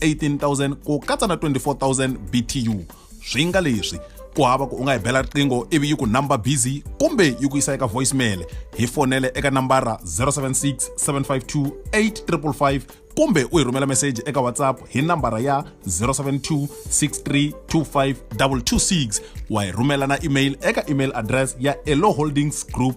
18000 ku katsa na 24000 btu swi nga leswi ku hava ku u nga hi bela riqingho ivi yi ku number busy kumbe yi ku yisa eka voicemail hi fonele eka nambara 076 752 8555 kumbe u hi rhumela meseji eka whatsapp hi nambara ya 072 6325226 wa hi rhumela na email eka email address ya eloholdingsgroup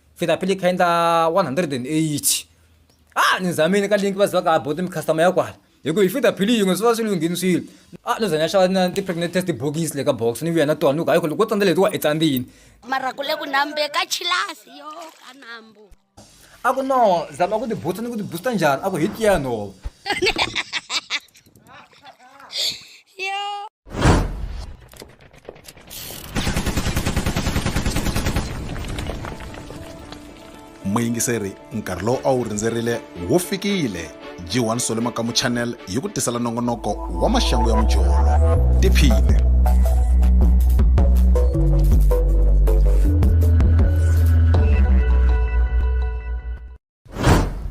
feta pele kha endla 108 a ni zamile ka link va ziva ka bottom customer ya kwala hi ku hi fita phili yin'we swi va swi lunghini swilo a no zanya xava na ti-pregnant test bokisi le ka box ni vuya na tona ni ku hayi ku loko wo tsandza leti wa i tsandzini mara ku le ku nambe ka chilasi yo ka nambu a ku no zama ku ti booster ni ku ti booster njhani a ku hi tiya nhova ya. muyingiseri nkarhi lowu a wu rindzerile wu fikile jiwani sole makamu channel yi ku tisela nongonoko wa maxangu ya mujolo tiphine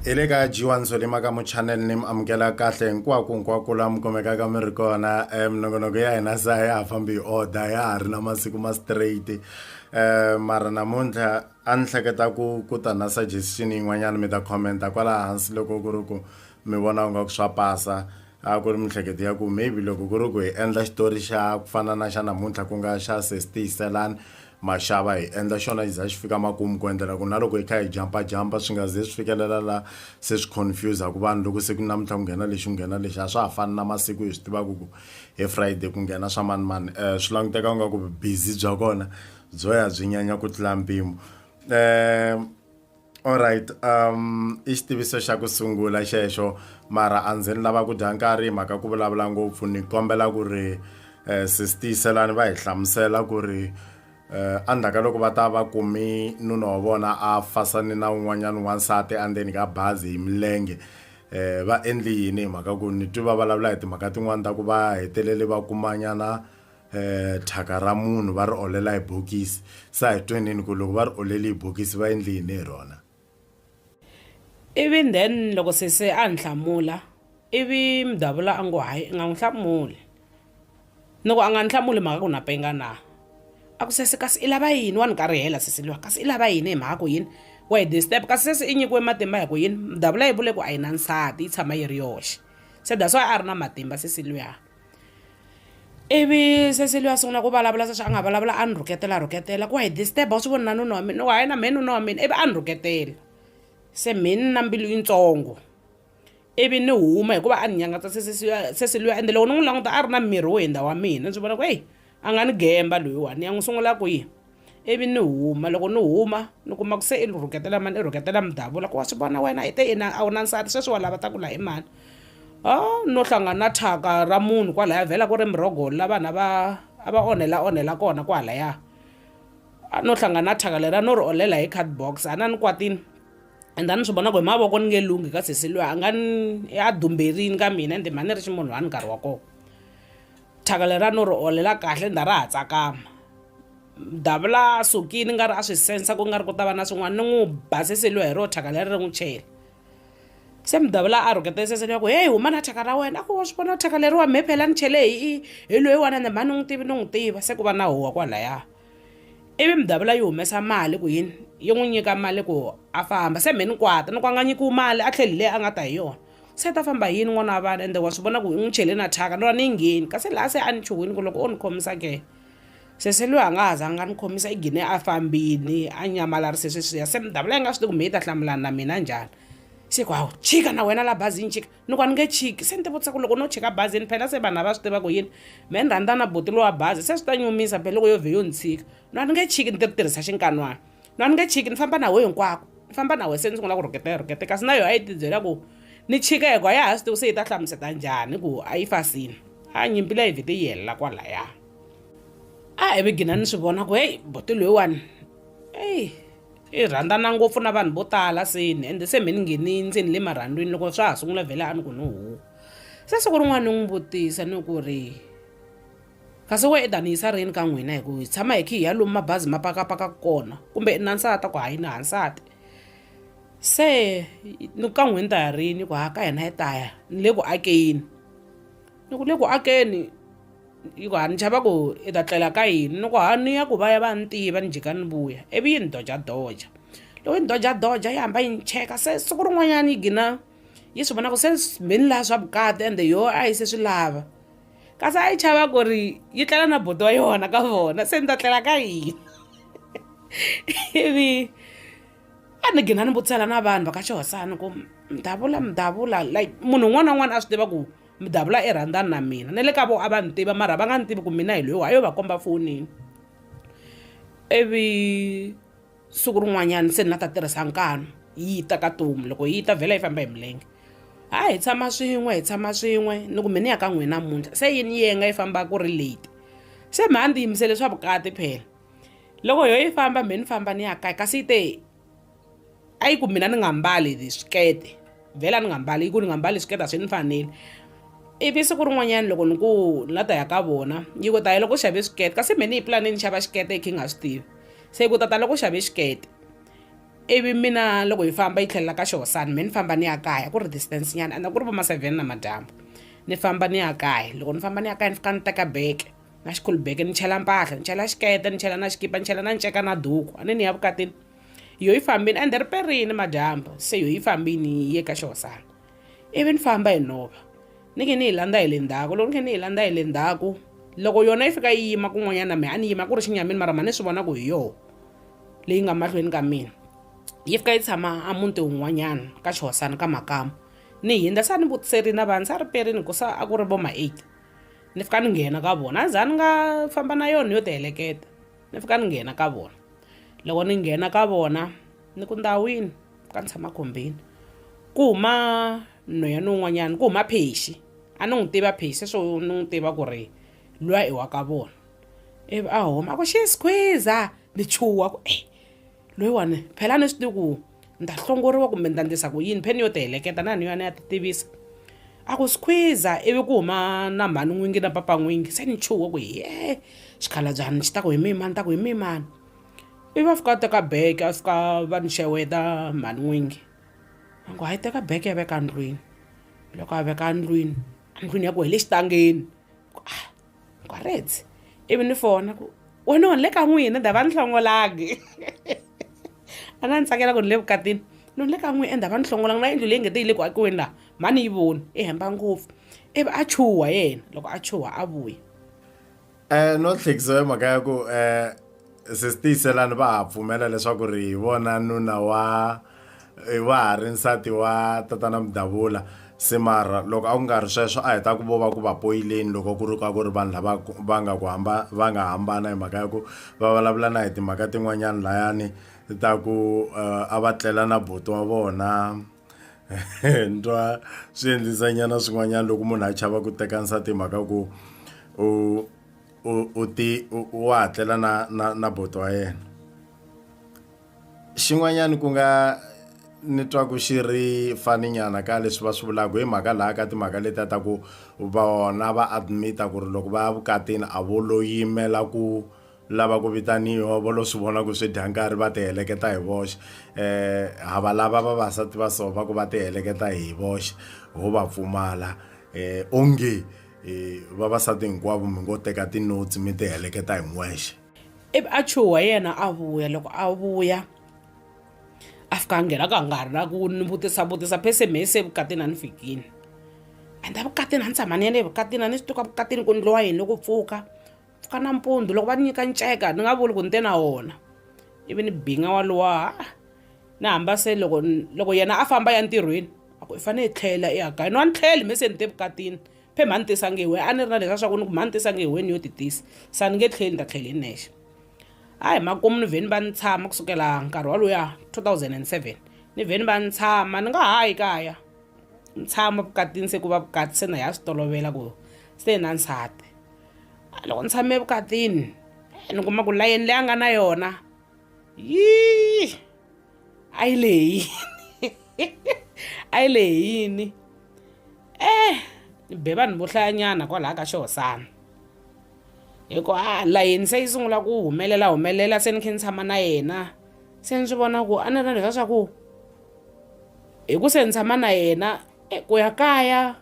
hi le ka jiwa nsolima ka muchannel ni mi amukela kahle hinkwako hinkwako la mi kumekaka mi ri kona um minongonoko ya hina sa ya ha fambi hi order ya ha ri na masiku ma straight um mara namuntlha a ni hleketa ku ku ta na suggestion yin'wanyana mi ta commenta kwala hansi loko ku ri ku mi vona u nga ku swa pasa a ku ri miehleketo ya ku maybe loko ku ri ku hi endla xitori xa ku fana na xa namuntlha ku nga xa sesitiyiselani Mashava hi endla xona xi za xi fika makumu ku endlela ku na loko hi kha hi jampajampa swi nga ze swi fikelela la se swi confuse-aka vanhu loko se ku namuntlha ku nghena lexi ku nghena lexi a swa ha fani na masiku hi swi tivaka ku hi friday ku nghena swa mani mani um swi languteka ku nga ku busy bya kona byo ya byi nyanya ku tlula mpimo um Alright um i xitiviso xa ku sungula xexo mara a ndzi ni lava ku dya nkarhi mhaka ku vulavula ngopfu ni kombela ku ri eh, sis tiyiselani va hi hlamusela ku ri eh, endzhaku ka loko va ta va kumi nuna wa vona a fasani na un'wanyana wansati endzeni ka bazi hi milenge eh va endli yini hi mhaka ku ni twi va vulavula hi timhaka tin'wani ta ku va hetelele va kumanyana eh thyaka ra munhu va ri olela hi bokisi sa hi twenini ku loko va ri oleli hi bokisi va endli yini hi rona ivi then loko sese a ni hlamula ivi mudavula a ngo hayi i nga n'wi hlamuli ni ku a nga ni hlamuli mhaka ku na penga na a ku sese kasi i lava yini wa ni karihela sese liwa kasi i lava yini hi mhaka ku yini wa hi disturb kasi sese i nyikiwe matimba hi ku yini mudavula yi vule ku a yi na nsati yi tshama yi ri yoxe se that's why a ri na matimba sese luya ivi se Celia a sungula ku vulavula se swa a nga vulavula a ni rhuketela rhuketela ku wa hi disturb-a wa swi vona na nuna wa mina wa yena mehe nuna wa mina ivi a ni rhuketela se mehe ni na mbilu yitsongo ivi ni huma hikuva a ni nyangatsa se se se Celia ende loko ni n'wi languta a ri na miri wo hundza wa mina ni swi vona ku heyi. A nga ni gemba loyiwani, ni ya n'wi sungula kwihi? Ivi ni huma. Loko ni huma, ni kuma ku se i rhuketela mani, i rhuketela mudavula, ku wa swi vona wena i te yini a wu na nsati sweswi wa lava ta ku laha i mani? A no hlangana na thyaka ra munhu kwalaya vhela ku ri Murhogoli la vanhu a va a va onhela-onhela kona kwalaya. A no hlangana na thyaka leriya no ri olela hi card box, a na ni kwatile ende a ni swi vona ku hi mavoko ni nge lunghi ka sesi luya a nga ni a dumberile ka mina ende mhani ni ri ximunhwana nkarhi wa kona. thyaka leriya no ri holela kahle ni ta ra ha tsakama davula sukini nga ri a swi sensa ku nga ri ku ta va na swin'wana ni n'wi basiseliwe hi ro thyaka leri ri n'wi chela se mudavula a rhuketa eseseni ya ku heyi huma na thyaka ra wena a ku wa swi vona thyaka leriwa mhe phela ni chele hi hi loyiwana ende mhani n'wi tivi ni n'wi tiva se ku va na huwa kwalaya ivi mudavula yi humesa mali ku yini yi n'wi nyika mali ku a famba se mhe ni kwata ni ku a nga nyikiwi mali a tlheli leyi a nga ta hi yona se a ta famba hi yini n'wana wa vanhu ende wa swi vona ku i n'wi chele na thyaka ni ri a ni yi ngheni kasi laha se a ni chuhwini ku loko o ni khomisa ke se se loyi a nga ha zanga a ni khomisa i gine a fambini a nyamalarise sweswiya se ni davula yi nga swi tivi kumbe yi ta hlamulana na mina njhani se ku hawu chika na wena la bazini chika ni ku a ni nge chiki se ni tivutisa ku loko no chika bazini phela se vanhu a va swi tiva ku yini me ni rhandza na boti lowa bazi se swi ta nyumisa phela loko yo vhe yo ni tshika ni a ni nge chiki ni ti ri tirhisa xinkan'wana na ni nge chiki ni famba na we hinkwako ni famba na we se ni sungula ku rhuketa yi rhukete kasi na yona a yi tibyela ku ni chika hi ku a ya ha swi tivi se yi ta hlamuseta njhani ku a yi fasini a nyimpi leyi vhete yi helela kwalaya a hi vigina ni swi vona ku heyi boti loyiwani eyi i rhandzana ngopfu na vanhu vo tala seni ende se mhe ni nghenini ndzeni le marhandzwini loko swa ha sungula vhele a ni ku ni huwa se siku rin'wana ni n'wi vutisa ni ku ri Kasi wena i ta ni yisa rini ka n'wina hi ku hi tshama hi khi hi ya lomu mabazi ma pakapaka kona kumbe i na nsati ku hayi na ha nsati se ni ka n'wina ta ya rini ku ha ka hina hi ta ya ni le ku akeni ni ku le ku akeni yi ku ha ni chava ku i ta tlela ka yini ni ku ha ni ya ku va ya va ni tiva ni jika ni vuya ivi yi ni dojadoja loko yi ni dojadoja yi hamba yi ni cheka se siku rin'wanyana yi gina yi swi vona ku se mheni laha swa vukati ende yoho a yi se swi lava kasi a yi chava ku ri yi tlela na buti wa yona ka vona se ni ta tlela ka yini ivi a ni gina ni vutisela na vanhu va ka xihosana ku mi davula mi davula like munhu un'wana na un'wana a swi tiva ku mi davula i rhandzani na mina na le ka vo a va ni tiva mara va nga ni tivi ku mina hi loyi wa yo va komba fonini ivi siku rin'wanyana se ni nga ta tirhisa nkanu yi ta ka tomu loko yi ta vhela yi famba hi milenge ha hi tshama swin'we hi tshama swin'we ni ku mini ya ka n'wina namuntlha se yini yenga yi famba ku ri late se mha ndzi yimisele swa vukati phela loko yo yi famba mhe ni famba ni ya kaya kasi yi te a yi ku mina ni nga mbali swikete vhela ni nga mbali ku ni nga mbali swiketa swi ni fanele ivi siku rin'wanyana loko ni ku ni la ta ya ka vona yi ku taye loko u xave swikete kasi me ni yi pulani ni xava xikete i khe nga swi tivi se yi ku tata loko u xave xikete ivi mina loko hi famba yi tlhelela ka xihosana me ni famba ni ya kaya ku ri distance nyana anda ku ri va ma-seven na madyambu ni famba ni ya kaya loko ni famba ni ya kaya ni fika ni teka beke na xikhulubeke ni chela mpahla ni chela xikete ni chela na xikipa ni chela na nceka na duku a ni ni ya vukatini yo yi fambini ende ri perini madyambu se yo yi fambini yi ye ka xihosana ivi ni famba hi nhova ni khe ni yi landza hi le ndzhaku loko ni khe ni yi landza hi le ndzhaku loko yona yi fika yi yima kun'wanyana mehe a ni yima ku ri xinyamini mara ma ni swi vona ku hi yoho leyi nga mahlweni ka mina yi fika yi tshama a muti wun'wanyana ka xihosana ka makamu ni hindza sa ni vutiserini vanhu sa ri perini ku sa a ku ri vo ma eight ni fika ni nghena ka vona a za ni nga famba na yona ni yo ti heleketa Ni fika ni nghena ka vona. Loko ni nghena ka vona, ni ku, Ndhawini, ka ni tshama khombeni. Ku huma nhweyana un'wanyana, ku huma Phexi. A ni n'wi tivi a Phexi, sweswo ni n'wi tiva ku ri luya i wa ka vona. Ivi a huma a ku, Xies! Khwiza! Ni chuha ku, Eyi, loyiwani phela a ni swi tivi ku. Nda hlongoriwa kumbe nda ndlisa ku yini? Pheni yo ti heleketa na ni yona ya ti tivisa. A ku skhwiza ivi ku huma na mhani n'wingi na papa n'wingi se ni chuhe ku yee xikhalabyana xi ta ku hi mihi mhani ni ta ku hi mihi mhani. Ivi a fika a teka beke a fika va ni xeweta mhani n'wingi a ni ku hayi teka beke ya veka ndlwini loko a veka ndlwini a ndlwini ya ku hi le xitangeni ku a. Gwaretse ivi ni fona ku wena ni le ka n'wina dava ni hlongolangi a nga ni tsakela ku ni le vukatini ni le ka n'wina endhava ni hlongolangi na yindlu leyi nge te yi le ku akiweni laha mhani ni yi voni i hemba ngopfu ivi a chuha yena loko a chuha a vuya um no tlhekisa hi mhaka ya ku um sesi tiyiselani va ha pfumela leswaku ri hi vona nuna wa wa ha ri nsati wa tatana mudavula se mara loko a ku nga ri sweswo a hi ta ku vo va ku va poyileni loko ku ri ka ku ri vanhu lava va nga ku hamba va nga hambana hi mhaka ya ku va vulavula na hi timhaka tin'wanyani layani ta ku eh, a va tlela na buti wa vona ntwa swi endlisa nyana swin'wanyana loko munhu a chava ku teka nsati hi mhaka ku u u u ti u u wa ha tlela na na na boto wa yena xin'wanyani ku nga ni twa ku xi ri fani nyana ka leswi va swi vulaku hi mhaka la ka timhaka letiya ta ku vona va admit-a ku ri loko va ya vukatini a vo lo yimela ku lava ku vitaniwa vo lo swi vona ku swi dya nkarhi va ti heleketa hi voxe ha va lava vavasati va so va ku va ti heleketa hi voxe ho va pfumala onge. e vavasati hinkwavo mi ngo teka tinotsi mi ti heleketa hin'wexe ivi a chuha yena a vuya loko a vuya a fika a nghena ka nga ri na ku ni vutisa vutisa phese me se vukatini a ni fikini and a vukatini a ni tshama ni ya le vukatini a ni swi tuka vukatini ku ni lowa yini ku pfuka pfuka nampundzu loko va ni nyika nceka ni nga vuli ku ni te na wona ivi ni binga wa luwa ha-a ni hamba se loko loko yena a famba ya ntirhweni a ku i fanele i tlhela i ya kaya ni wa ni tlheli me se ni te vukatini phe mhani ni tisa nge hi wena a ni ri na leswi a swa ku ni ku mhani ni tisa nge hi wena ni yo ti tisa se a ni nge tlheli ni ta tlhela hi nexe a hi makumu ni vhe ni va ni tshama kusukela nkarhi waloya 2007 ni vhe ni va ni tshama ni nga ha yi kaya ni tshama vukatini se ku va vukati se na hi ya swi tolovela ku se na nsati loko ni tshame evukatini eh, ni kuma ku layeni leyi a nga na yona yii a yi le hi yini a yi le hi yini eh ni be vanhu vo hlayanyana kwalaha ka xihosana hikuva a layeni se yi sungula ku humelela humelela se ni khe ni tshama na yena se ni swi vona ku a ni ri leswa swa ku hi ku se ni tshama na yena eh, ku ya kaya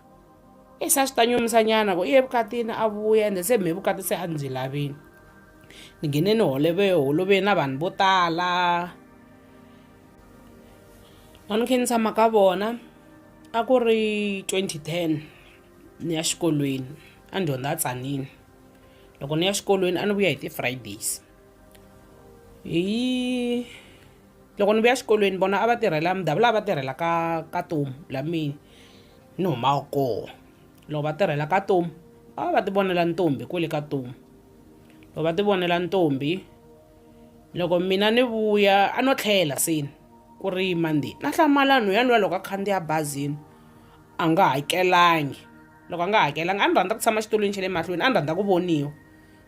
e se a swi ta nyumisa nyana ku i ye vukatini a vuya ende se me vukati se a ndzi lavini ni nghene ni holove holoveni na vanhu vo tala a ni khe ni tshama ka vona a ku ri 2010 ni ya xikolweni a ni dyondza a tsanile loko ni ya xikolweni a ni vuya hi ti-fridays hi loko ni vuya xikolweni vona a va tirhela mudavula a va tirhela ka ka tomu la mina ni humaka koho loko va tirhela ka tomu a va va ti vonela ntombi kwele ka tomu loko va ti vonela ntombi loko mina ni vuya a no tlhela seni ku ri mandi na hlamala nhu ya luya loko a khandziya bazini a nga hakelangi loko a nga hakelanga a ni rhandza ku tshama xitulwini xa le mahlweni a ni rhandza ku voniwa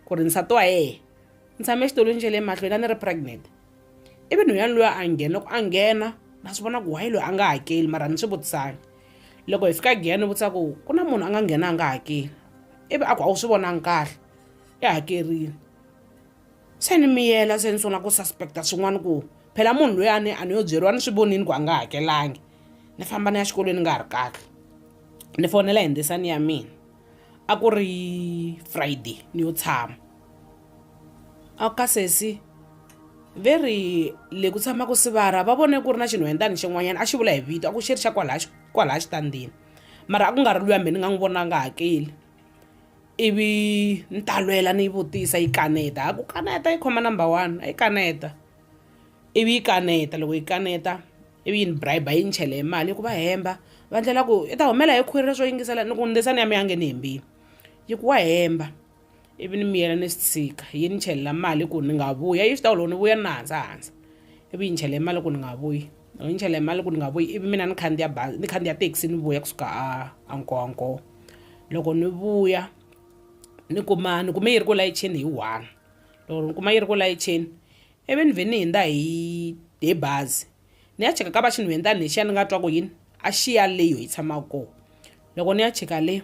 ku ri nsati wa yena ni tshame exitulwini xa le mahlweni a ni ri pregnant ivi nhwanyana loyi a nghena loko a nghena na swi vona ku wayi loyi a nga hakeli mara ni swi vutisanga loko hi fika giyani ni vutisa ku ku na munhu a nga nghena a nga hakeli ivi a ku a wu swi vonangi kahle i hakerile se ni miyela se ni sungula ku suspecta swin'wana ku phela munhu loyi a ni a ni yo byeriwa ni swi vonini ku a nga hakelangi ni famba ni ya xikolweni ni nga ha ri kahle ni fonela hi ndzisani ya mina a ku ri friday ni yo tshama a ka sesi ve ri le ku tshamaka sivara va vone ku ri na xinhwendani xin'wanyana a xi vula hi vito a ku xi ri xa kwalaya kwalaya xitandzini mara a ku nga ri luya mina ni nga n'wi vona nga hakeli ivi ni talwela ni yi vutisa yi kaneta a ku kaneta yi khoma number one a yi kaneta ivi yi kaneta loko yi kaneta ivi yi ni bribe yi ni chele hi mali yi ku va hemba va ndlela ku i ta humela hi khwiri leswo yingisela ni ku ndzisani ya mi ya nge ni hembile yi ku wa hemba ivi ni miyela ni swi tshika yi ni chelela mali ku ni nga vuya yi swi tiva loko ni vuya ni na handza handza ivi yi ni chele mali ku ni nga vuyi loko yi ni chele mali ku ni nga vuyi ivi mina ni khandziya bazi ni khandziya thekisi ni vuya kusuka a a nkowa nkowa loko ni vuya ni kuma ni kume yi ri ku layicheni hi one. loko ni kuma yi ri ku layicheni ivi ni vhe ni hundza hi hi bazi ni ya cheka ka va xinhwendza ni lexiya ni nga twa ku yini a xi ya le yo yi tshama kona loko ni ya cheka le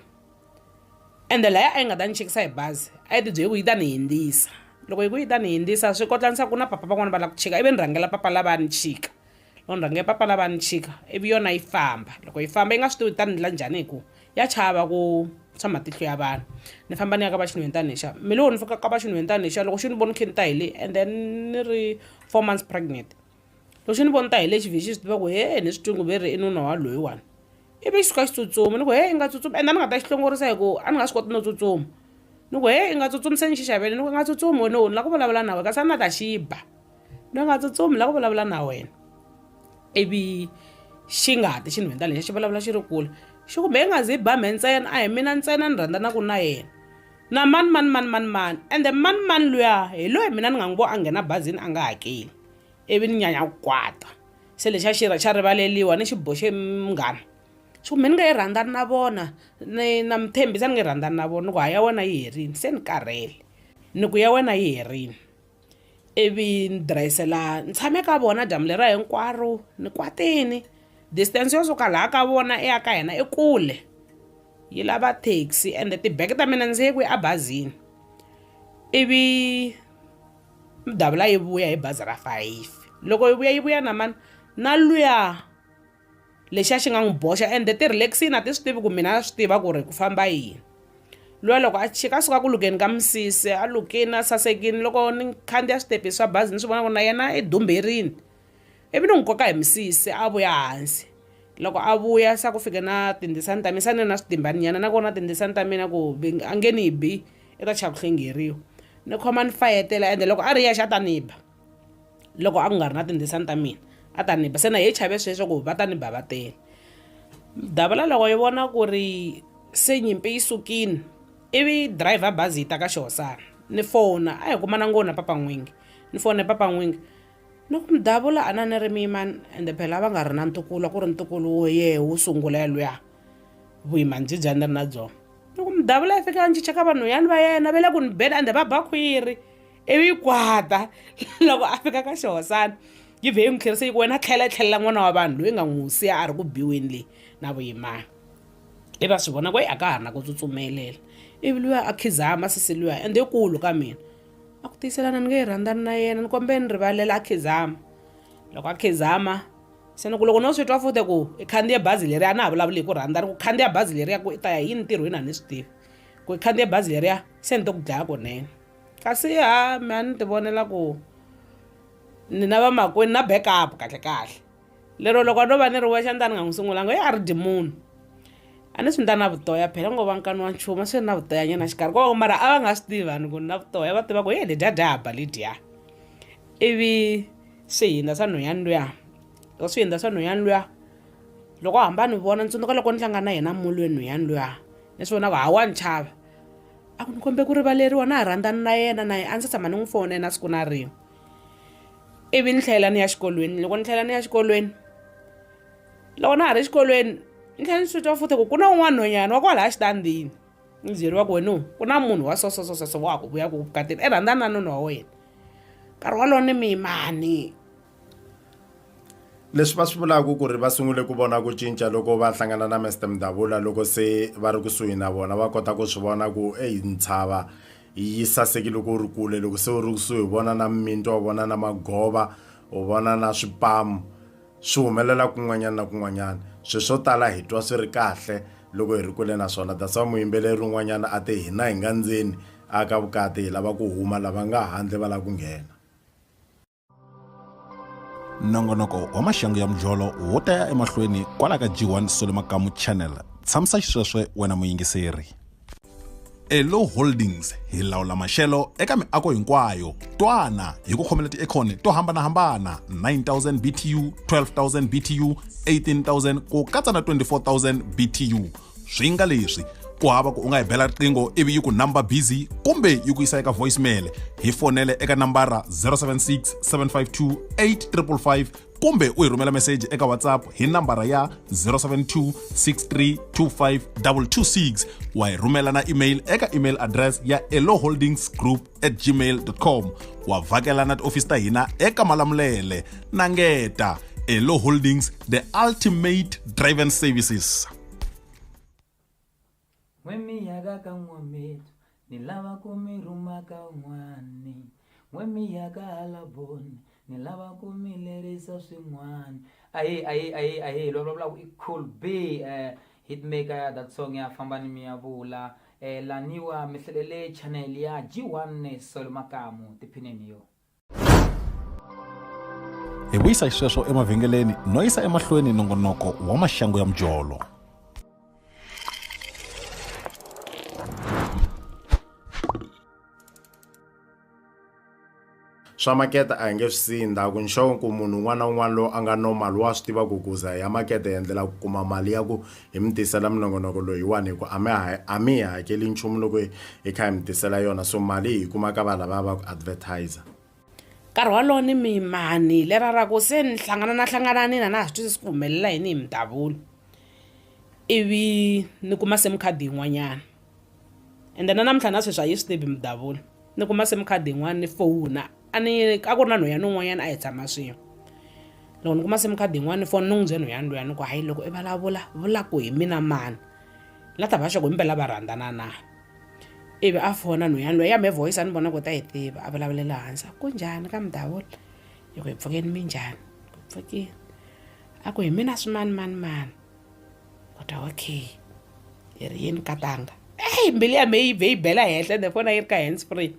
ende laya a yi nga ta ni chekisa hi bazi a yi tibyele ku yi ta ni hundzisa loko yi ku yi ta ni hundzisa swi kotla ni swa ku na papa van'wani va lava ku chika ivi ni rhangela papa lavaya ni chika. Loko ni rhange papa lava ni chika ivi yona yi famba loko yi famba yi nga swi tivi ta ni endla njhani hi ku ya chava ku swa matihlo ya vanhu ni famba ni ya ka va xinhwentana lexiya me loko ni fika ka va xinhwentana lexiya loko xi ni vona ni kha ni ta hi le and then ni ri four months pregnant loko xi ni vona ni ta hi le xi vhe xi swi tiva ku he ni swi twi ku ve ri i nuna wa loyiwani ivi xi suka xi tsutsuma ni ku he i nga tsutsumi ende a ni nga ta xi hlongorisa hi ku a ni nga swi koti no tsutsuma ni ku he i nga tsutsumi se ni xi xavele ni ku i nga tsutsumi wena u ni lava ku vulavula na wena kasi a ni la ta xi ba. ni nga tsutsumi la ku vulavula na wena ivi xi nga ti xi ni hundza lexi xi vulavula xi ri kule xi kumbe i nga zi ba me ntsena a hi mina ntsena ni rhandza na ku na yena na mani mani mani mani mani ende mani mani luya hi loyi mina ni nga n'wi vo a nghena bazini a nga hakeli ivi ni nyanya ku kwata se lexi a xi xa rivaleliwa ni xi boxe munghana xi ku me ni nga yi rhandzani na vona ni na mi tshembisa ni nge rhandzani na vona ni ku ha ya wena yi herile se ni karhele ni ku ya wena yi herile ivi ni dirayisi laha ni tshame ka vona dyambu leriya hinkwaro ni kwatile distance yo suka laha ka vona i ya ka hina i kule yi lava taxi ende ti-bag ta mina ndzi ye kwihi ebazini ivi mudavula yi vuya hi bazi ra fayifi loko yi vuya yi vuya na mani na luya. lexi a xi nga n'wi boxa ende ti-relaxini a ti swi tivi ku mina a swi tiva ku ri ku famba yini luya loko a chika a suka ku lukeni ka misisi a lukini a sasekini loko ni khandziya switepisi swa bazi ni swi vona ku na yena i dumberini ivi ni n'wi koka hi misisi a vuya hansi loko a vuya se a ku fike na tindzisani ta mina se a ni ri na switimbaninyana na kona tindzisani ta mina ku a nge ni bi i ta chava ku hlengeriwa ni khoma ni fayetela ende loko a ri yexe a ta ni ba loko a ku nga ri na tindzisani ta mina a ta ni ba se na hi chave sweswo ku va ta ni bavatela davula loko yi vona ku ri se nyimpi yi sukile ivi driver bazi yi ta ka xihosana ni fona a hi kuma na ngo na papa n'wingi ni fone papa n'wingi ni ku mudavula a na ni ri miyimani ende phela va nga ri na ntukulu ku ri ntukulu wo yehe wu sungula yalwiya vuyimani byi bya ni ri na byona ni ku mudavula yi fika a ni chicha ka vanhu yani va yena va le ku ni beni ende va ba khwiri ivi yi kwata loko a fika ka xihosana yi vhe yi n'wi tlherisa yi ku wena tlhela yi tlhelela n'wana wa vanhu loyi nga n'wi siya a ri ku biweni leyi na vuyimana i va swi vona ku yi a ka ha ri na ku tsutsumelela ivi luya a khizama sisi luya ende ikulu ka mina a ku tiyiselana ni nge yi rhandzani na yena ni kombeni rivalela a khizama loko a khizama se ni ku loko no swi twa fute ku i khandziye bazi leriya a na ha vulavuli hi ku rhandza ni ku khandziya bazi leriya ku i ta ya yini ntirhweni a ni swi tivi ku i khandziye bazi leriya se ni to ku dlaya kunene kasi ha mi a ni ti vonela ku ni na vamakwenu na backup kahlekahle lero loko a no va ni ri wexe a ni ta ni nga n'wi sungulanga ye a ri dyi munhu a ni swi ni ta na vutoya phela ngo va nkani wa nchumu a swi ri na vutoya nyana xikarhi ko mara a va nga swi tivi vanhu ku ni na vutoya va tiva ku ye ledya dya haba ledya ivi swihinda swa nhweyani luya loko swihinda swa nhweyani luya loko a hamba a ni vona ni tsundzuka loko ni hlangana na yena molweni nhweyani luya ni swi vona ku ha wa ni chava a ku ni khombe ku rivaleriwa na ha rhandzana na yena na yena a ndzi tshama ni n'wi fonela siku na rin'we ivi ni tlhela ni ya xikolweni loko ni tlhela ni ya xikolweni loko na ha ri xikolweni ni tlhela ni switwa futhi ku ku na un'wana nhonyana wa kwalaya xitandini ni byeriwa ku wena ku na munhu wa so so so so so wa ha ku vuya ku vukatini i rhandzana na nuna wa wena nkarhi wolowo ni miyimani leswi va swi vulaka ku ri va sungule ku vona ku cinca loko va hlangana na Mr Mdavula loko se va ri kusuhi na vona va kota ku swi vona ku eyi ntshava yi sasekile loko u ri kule loko se u ri kusuhi u vona na mintwa u vona na magova u vona na swipamu swi humelela kun'wanyana na kun'wanyana swi swo tala hi twa swi ri kahle loko hi ri kule naswona that's why muyimbeleri un'wanyana a te hina hi nga ndzeni a ka vukati hi lava ku huma lava nga handle va lava ku nghena nongonoko wa maxangu ya mujolo wo ta ya emahlweni kwala ka g1 sole makamu channel tshamisa xisweswe wena muyingiseri elo holdings hi lawula maxelo eka miako hinkwayo twana hi ku khomela tiekhoni to hambanahambana 9000 btu 12000 btu 18000 ku katsa na 24000 btu swi nga leswi ku hava ku u nga yi bela riqingho ivi yi ku number busy kumbe yi ku yisa eka voicemail hi fonele eka nambara 076 752 8555 kumbe u hi rhumela meseji eka whatsapp hi nambara ya 072 6325226 wa hi rhumela na email eka email address ya eloholdingsgroup at gmail.com wa vhakela na tiofisi ta hina eka malamulele na ngeta elo holdings the ultimate driven services wemiyaka ka n'wametu ni lava ku mi rhuma ka un'wani wemiyaka hala boni ni lava ku mi lerisa swin'wani ahe ahe ahe ahe lovulavula ku i cool b um eh, Hitmaker ya that song ya famba ni miyavula eh, laniwa mi hlalele channel ya G1 Solo Makamu tiphineni yo hi vuyisa hi sweswo emavhengeleni no yisa emahlweni nongonoko wa maxangu ya mujolo swa makete a hi nge swi siyi ndhaku nxavo ku munhu un'wana na un'wana loyi a nga normal wa swi tiva ku kuza ya makete hi endlela ku kuma mali ya ku hi mi tisela minongonoko loyiwani hi ku a mi a mi hi hakeli nchumu loko hi kha hi mi tisela yona so mali hi yi kuma ka va lava va ku advertiser nkarhi walowo ni mimani lera ra ku se ni hlangana na hlanganani na na ha swi twisisi ku humelela yini hi mi davula ivi ni kuma se mi khadi yin'wanyana ende na namuntlha na sweswi a yi swi tivi mudavula ni kuma sim card yin'wana ni fowuna a ni a ku ri na nhwanyana un'wanyana a hi tshama swin'we loko ni kuma sim card yin'wana ni foni ni n'wi bye nhwanyana luyani ku hayi loko i vulavula vula ku hi mina mani la ta va xoko himpela va rhandzana na ivi a fona nhwanyana loyi ya me voice a ni vona ku ta yi tiva a vulavulela hansi ku njhani ka mudavula hi ku hi pfukeni minjhani ku pfukile a ku hi mina swimanimani mani kota okay hi ri yini katanga eyi mbilu ya me yi vhe yi bela henhla ende fona yi ri ka hands free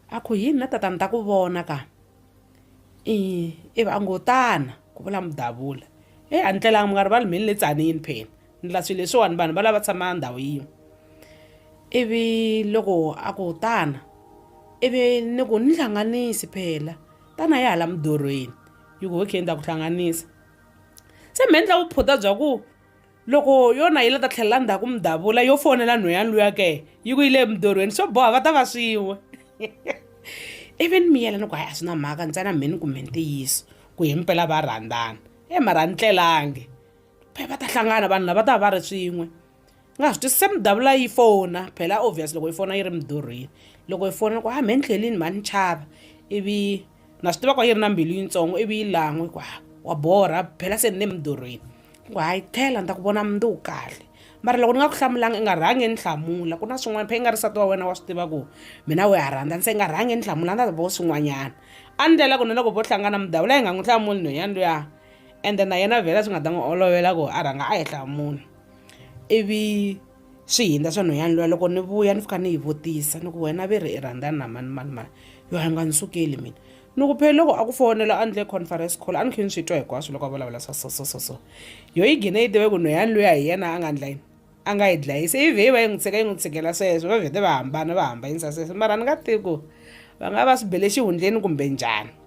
a ku yini na tatana ta ku vona ka i ivi a ngo tana ku vula mudavula e a ni tlelanga mi nga rivali mhini le tsanini phela ni la swilo leswiwani vanhu va lava tshama ndhawu yin'we ivi loko a ku tana ivi ni ku ni hlanganisi phela tana ya hala mudorweni yi ku okay ni ta ku hlanganisa Se mi endla vuphutha bya ku loko yona yi la ta tlhelela ndzhaku mi davula yo fonela nhweyani luya ke yi ku yi le mudorweni swo boha va ta va swin'we ivi ni miyela ni ku hayi a swi na mhaka ntsena mheni ku mhe ntiyiso ku hi mpela va rhandzana e mara a ni tlelangi va ta hlangana vanhu lava va ta va va ri swin'we ni nga swi twisisi se mi davula yi fona phela obvious loko yi fona yi ri midurhweni loko yi fona ku ha mhe ni tlhelini mhani chava ivi na swi tiva ku a yi ri na mbilu yitsongo ivi yi lan'we ku ha wa borha phela se ni le midurhweni ku hayi tlhela ni ta ku vona mundzi wu kahle mara loko ni nga ku hlamulanga i nga rhangi ni hlamula ku na swin'wana phe i nga ri sati wa wena wa swi tiva ku mina we ha rhandza ni se i nga rhangi ni hlamula ni ta vo swin'wanyana a ni ndlela ku na loko vo hlangana mudavula yi nga n'wi hlamuli nhwenyana luya ende na yena vhela swi nga ta n'wi olovela ku a rhanga a yi hlamula ivi swi hindza swa nhwanyana luya loko ni vuya ni fika ni yi vutisa ni ku wena ve ri i rhandzana na mani mani mani yo a nga ni sukeli mina ni ku phela loko a ku fonela a ndle conference call a ni khe ni swi twa hinkwaswo loko a vulavula swa so so so so yo yi gine yi tive ku nhwanyana luya hi yena a nga ndla yini a nga yi dlayisa ivi yi va yi n'wi tshika yi n'wi tshikela sweswo va vhete va hambana va hambanyisa sweswo mara ni nga tivi ku va nga va swi bele xihundleni kumbe njhani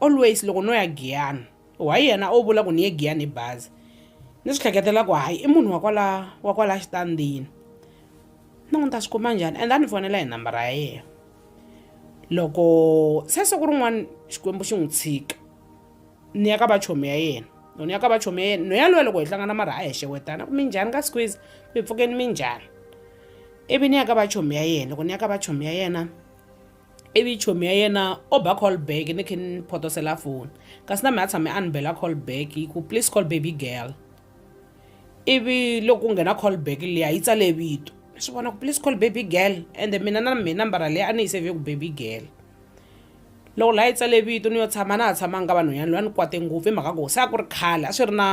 always loko no ya giyana wa yena o vula ku ni ye giyana hi bazi ni swi hleketela ku hayi i munhu wa kwala wa kwala xitandini ni n'wi ta swi kuma njhani and a ni fonela hi nambara ya yena loko se siku rin'wana xikwembu xi n'wi tshika ni ya ka vachomi ya yena loko ni ya ka vachomi ya yena no yaloye loko hi hlangana mara a hi xewetana ku mi njhani ka squeeze mi pfukeni mi njhani ivi ni ya ka vachomi ya yena loko ni ya ka vachomi ya yena ivi chomi ya yena o ba call back ni khe ni photosela foni kasi na mina tshame a ni bela call back hi ku please call baby girl ivi loko ku nghena call back liya yi tsale vito ni swi vona ku please call baby girl ende mina na mina nambara leyi a ni yi save ku baby girl loko laha yi tsale vito ni yo tshama na ha tshamanga ka vanhwanyana loyi a ni kwate ngopfu hi mhaka ku se a ku ri khale a swi ri na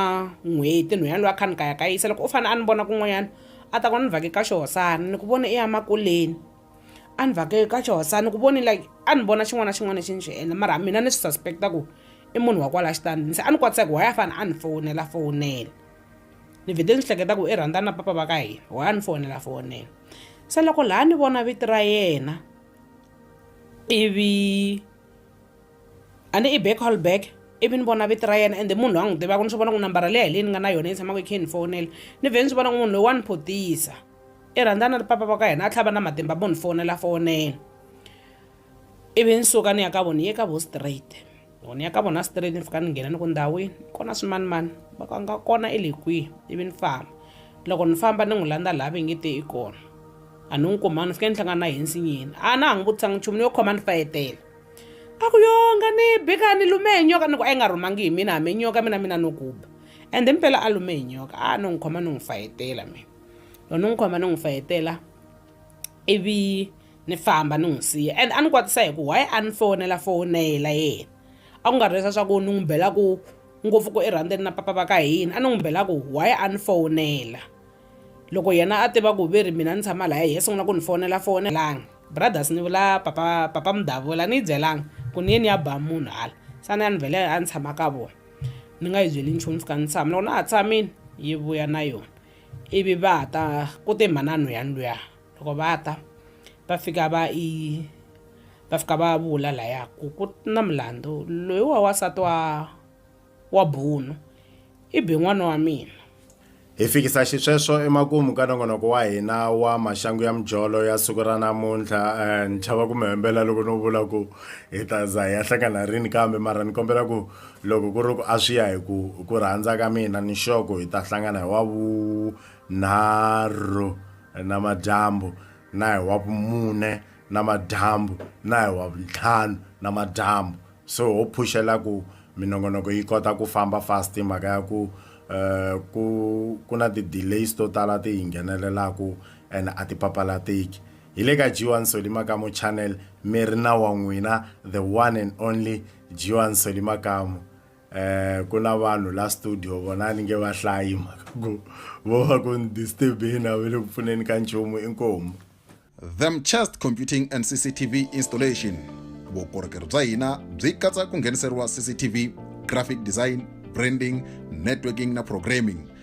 n'hweti nhwanyana loyi a kha ni kayakayisa loko u fanele a ni vona kun'wanyana a ta ku ni vake ka xihosana ni ku vone i ya makuleni a ni vhake ka xihosana ni ku voni like a ni vona xin'wana na xin'wana lexi ni xi endla mara mina ni swi suspecta ku i munhu wa kwala xitandi se a ni kwatisa ku why a fane a ni fowunela fowunela ni vhete ni swi hleketa ku i rhandza na papa va ka hina why a ni fowunela fowunela se loko laha ni vona vito ra yena ivi a ni i back hall back ivi ni vona vito ra yena ende munhu loyi a n'wi tivaka ni swi vona ku nambara leyi hi leyi ni nga na yona yi tshamaka yi khe ni fowunela ni vhe ni swi vona ku munhu loyi wa ni photisa i rhandza na ri papa va ka hina a tlhava na matimba mo ni fonela fonela ivi ni suka ni ya ka vona ni ye ka vo straight ni ya ka vona straight ni fika ni nghena ni ku ndhawini kona swimanimani va ka nga kona i le kwihi ivi ni famba loko ni famba ni n'wi landza laha va nge te i kona a ni n'wi kumanga ni fike ni hlangana na hi nsinyeni a na ha n'wi vutisanga nchumu ni yo khoma ni fayetela a ku yonga ni bika ni lume hi nyoka ni ku a yi nga rhumangi hi mina hambi nyoka mina mina no kuba ende mpela a lume hi nyoka a no n'wi khoma ni n'wi fayetela mina loko ni n'wi khoma ni n'wi fayetela ivi ni famba ni n'wi siya and a ni kwatisa hi ku why a ni fonela fonela yena a ku nga ri leswa swa ku ni n'wi bela ku ngopfu ku erhandeni na papa va ka hina a ni n'wi bela ku why a ni fonela loko yena a tiva ku ve ri mina ni tshama laya hi sungula ku ni fonela fonelanga brothers ni vula papa papa mudavula ni yi byelanga ku ni ye ni ya ba munhu hala sa ni ya ni vhele a ni tshama ka vona ni nga yi byeli nchumu fika ni tshama loko na ha tshamile yi vuya na yona ivi va ta ku te mhanano ya luya loko va ta va fika va i va fika va vula laya ku ku na mulandu loyi wa wansati wa wa bunu i be n'wana wa mina hi fikisa xisweswo emakumu ka nongonoko wa hina wa maxangu ya mijolo ya siku ra namuntlha um ni chava ku mi hembela loko no vula ku hi ta za hi ya hlangana rini kambe mara ni kombela ku Loko ku ri ku a swi ya hi ku hi ku rhandza ka mina ni nxoko hi ta hlangana hi Wavunharhu namadyambu na hi Wavumune namadyambu na hi Wavuntlhanu namadyambu so ho phuxela ku minongonoko yi kota ku famba fast hi mhaka ya ku um ku ku na ti-delays to tala ti hi nghenelelaku ene a ti papalateki hi le ka G1 Solly Makamu Channel mi ri na wa n'wina the one and only Jiwan Seli Makamu eh ku na vanhu la studio vona ni nge va hlayi mhaka ku vo va ku ni disturb hina ve le ku pfuneni ka nchumu inkomu them chest computing and cctv installation vukorhokeri bya hina byi katsa ku ngheniseriwa cctv graphic design branding networking na programming